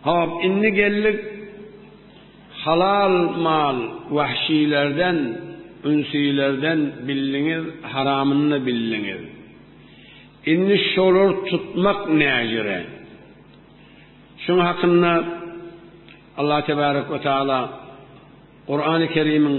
Hop, indi geldik halal mal wahşylerden, ünsilerden bildiňiz, haramyny-da bildiňiz. Indi şolary tutmak näjere? Şunuň hakynda Allah Tebarek ve Teala Kur'an-ı Kerim'in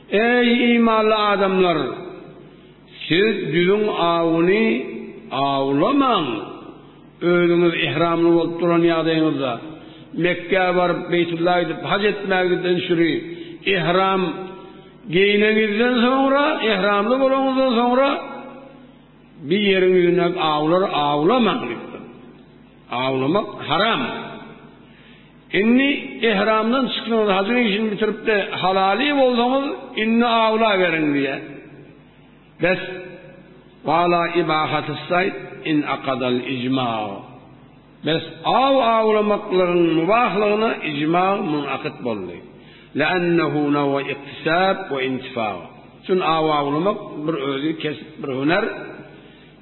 Eý, imanly adamlar! Siz düzüň awuny awlamaň! Özüňiz ihramly bolup duran ýagdaýyňyzda, Mekgä baryp, Beýtulla gidip, haj etmäňizden süri, ihram, geýneňizden soňra, ihramly bolaňyzdan soňra, bir ýeriň ýüzündäki awlary awlamaň! diýipdir. Awlamak haram. Indi ehramdan çykdyňyz, hajyň işini bitirip-de halaly bolsaňyz, indi awlaberiň diýýär. Bes, wala ibahatyssayd in akadal ijma. Bes, aw awlamaklygyň mubahlygyna ijma munakyt boldy. Leannehu nawa iktisab we intifa. Çün aw awlamak bir özi kesip, bir hüner.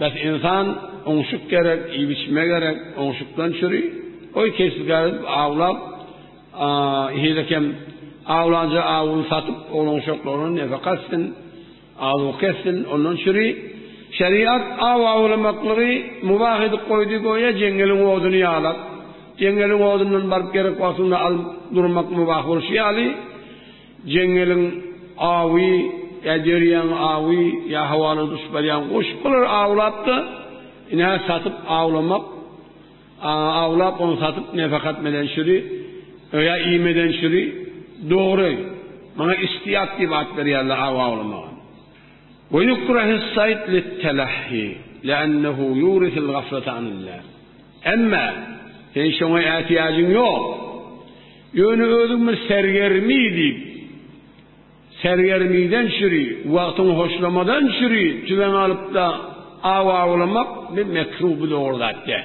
Bäh ynsan oňşuk gerek iýip-içme gerek oňşukdan çüri goý keşdikär edip awlap heýlekem awlanja awuny satyp oglanuşaklaryna nefaka etsin azuka etsin ondan çüri şeriat aw awlamaklygy mubah edip goýdy goýa jeňňeliň oduny ýalap jeňňeliň odundan baryp gerek wagtyňda alyp durmak mubah bolşy ýaly Jeňňeliň awy ýa derýaň awy ýa howadan uçup barýan guş bular awlap-da, ine satyp awlamak, awlap ony satyp nefakat meden çüri ýa iýmeden çüri dogry. Muňa istiýat diýip at berýärler aw awlamaga. Ve yukrahus sayd lit-telahhi li'annahu yurisul gaflata anillah. Emma sen şoňa ätiýajyň ýok. Ýöne özümiz sergermi diýip, sergermiden çüri, wagtyňy hoşlamadan çüri tüweň alyp-da aw awlamak bir mekruh, bu dogry zat däl.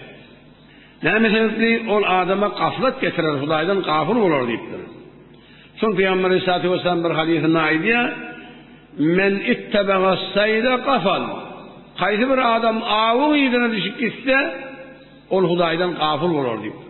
Näme sebäpli? Ol adama gaflat getirer, Hudaýdan gafyl bolar diýipdir. Soň Pygamber aleýhissalatu wessalam bir hadysynda aýdýar, Men ittabaga saýda gafal. Haýsy bir adam awyň yzyna düşüp gitse, ol Hudaýdan gafyl bolar diýipdir.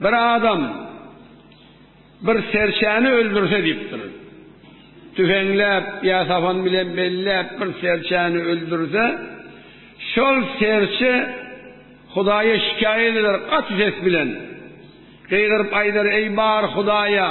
Bir adam bir serçäni öldürse diýipdir. Tüfeňläp ýa sapan bilen belläp bir serçäni öldürse, şol serçe Hudaýa şikaýat eder gaty ses bilen. Gygyryp aýdar, Eý bar Hudaýa!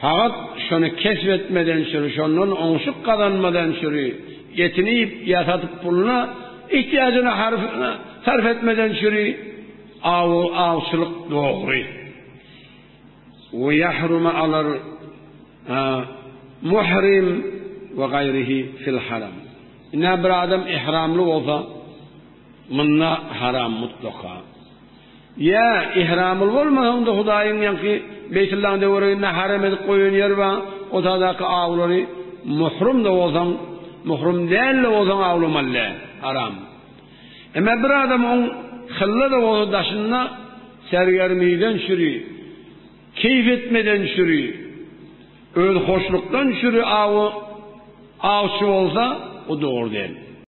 Sagat şony kesp etmeden süri, şondan oňşuk gazanmadan süri, etini iýip ýa satyp puluna, ihtiýajyna harfyna sarp etmeden süri, awy, awçylyk dogry. We ýahruma alar a, muhrim we gaýryhi fil haram. Ine bir adam ihramly bolsa, munda haram mutlaka. Ýa, ihramly bolmasaň-da Hudaýyň ýaňky Beýtullaň töwereginde harem edip goýan ýeri bar, o sagdaky awlary muhrum-da bolsaň, muhrum däl-de bolsaň awlamaly däl, haram. Emma bir adam oň hylla-da bolsa daşynda sergermiden çüri, keýp etmeden çüri, özhoşlukdan çüri awy awçy bolsa, o dogry däl.